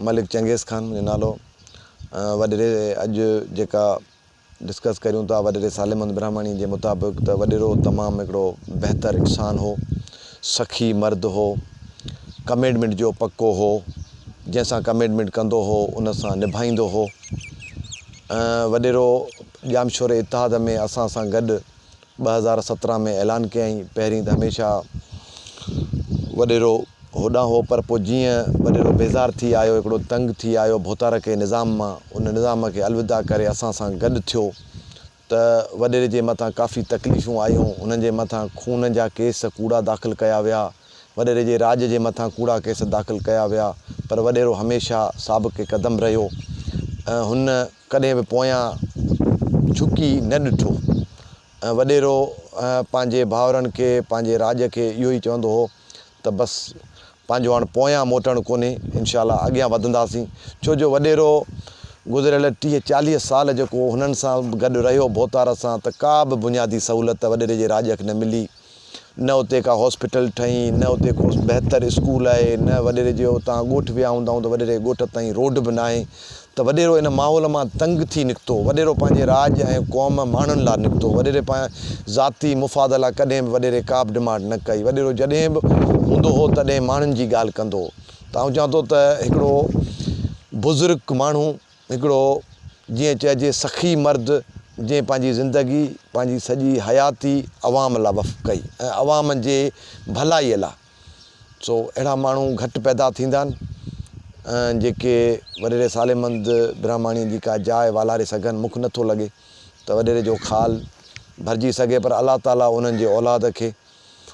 ملڪ چنگيز خان منهنجو نالو وڏيري اڄ جيڪا ڊسڪس ڪريون ٿا وڏيري ساليمند برهماڻي جي مطابق ته وڏيرو تمام هڪڙو بهتر انسان هو سخي مرد هو ڪميٽمينٽ جو پڪو هو جنهن سان ڪميٽمينٽ ڪندو هو ان سان نڀائيندو هو وڏيرو ڄامشوري اتحاد ۾ اسان سان گڏ ٻه هزار سترهن ۾ اعلان ڪيائين پهرين ته هميشه وڏيرو هوڏانهن هو پر پوء جيئن وڏيرو بيزار ٿي آيو هڪڙو تنگ ٿي آيو ڀوتارڪي نظام مان ان نظام کي الوداع ڪري اسان سان گڏ ٿيو ته وڏيري جي مٿان ڪافي تڪليفون آيون هن جي مٿان خون جا ڪيس ڪوڙا داخل ڪيا ويا وڏيري جي راڄ جي مٿان ڪوڙا ڪيس داخل ڪيا ويا پر وڏيرو هميشه ثابق قدم رهيو ۽ هن ڪڏهن به پويان جهڪي نه ڏٺو ۽ وڏيرو پنهنجي ڀائرن کي پنهنجي راڄ کي اهو ئي چوندو هو ته بس پنهنجو هاڻ پويان موٽڻ ڪونهي انشاء الله اڳيان وڌنداسين ڇو جو وڏيرو گذريل ٽيهه چاليهه سال جيڪو هنن سان گڏ رهيو ڀوتار سان ته ڪا به بنيادي سهولت وڏيري جي راڄ کي نه ملي نه اتي ڪا هاسپيٽل ٺهي، نه اتي ڪو بهتر اسڪول آهي، نه وڏيري جي اتان ڳوٺ ويا هوندا آهيون ته وڏيري جي ڳوٺ تائين روڊ به ناهي ته وڏيرو ان ماحول مان تنگ ٿي نڪتو. وڏيرو پنهنجي راڄ ۽ قوم ماڻهن لاء نڪتو. وڏيري پنهنجي ذاتي مفاد لاء ڪڏهن به وڏيري ڪابه ڊمانڊ نه ڪئي. وڏيرو جڏهن به هوندو هو تڏهن ماڻهن جي ڳالهه ڪندو هو ته آئون چوان ٿو ته هڪڙو بزرگ ماڻهو هڪڙو جيئن چئجي سخي مرد جنهن پنهنجي زندگي پنهنجي سڄي حياتي عوام لا وف ڪئي ۽ عوام جي ڀلائي لا سو اهڙا ماڻهو گهٽ پيدا ٿيندا آهن جيڪي وڏي رسالي مند برهماڻي جي ڪا جاء والاري سگهن مک نٿو لڳي ته وڏيري جو خال ڀرجي سگهي پر الله تعالي انهن جي اولاد کي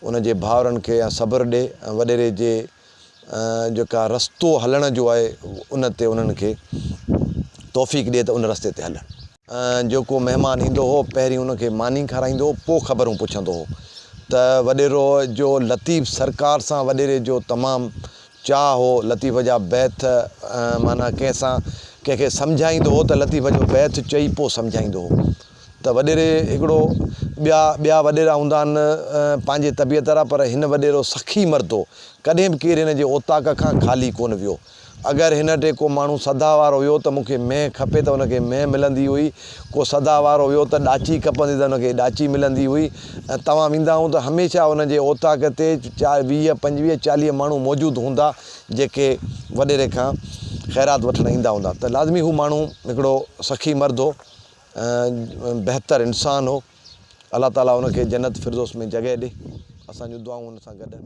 انهن جي ڀائرن کي يا صبر ڏي ۽ وڏيري جي جيڪا رستو هلڻ جو آهي ان تي انهن کي توفيق ڏي ته ان رستي تي هلن. جيڪو مهمان ايندو هو پهرين ان کي ماني کارائيندو هو پوء خبرون پڇندو هو ته وڏيرو جو لطيف سرڪار سان وڏيري جو تمام چاهه هو لطيف جا بيت معنيٰ ڪنهن سان ڪنهن کي سمجهائيندو هو ته لطيف جو بيت چئي پوء سمجهائيندو هو. ته وڏيري هڪڙو ٻيا ٻيا وڏيرا هوندا آهن پنهنجي طبيعت را پر هن وڏيرو سخي مرد هو ڪڏهن به ڪير هن جي اوطاق کان خالي ڪونه ويو اگر هن وٽ ڪو ماڻهو سدا وارو هيو ته مون کي مينهن کپي ته هن کي مينهن ملندي هئي ڪو سدا وارو هيو ته ڏاچي کپندي ته هن کي ڏاچي ملندي هئي ۽ توهان ويندا هون ته هميشه هن جي اوطاق تي چار ويهه پنجويهه چاليهه ماڻهو موجود هوندا جيڪي وڏيري کان خيرات وٺڻ ايندا هوندا ته لازمي هو ماڻهو هڪڙو سخي مرد هو بهتر انسان هو الله تعالي ان کي جنت فردوس ۾ جڳهه ڏي اسان جون دعائون ان سان گڏ آهن.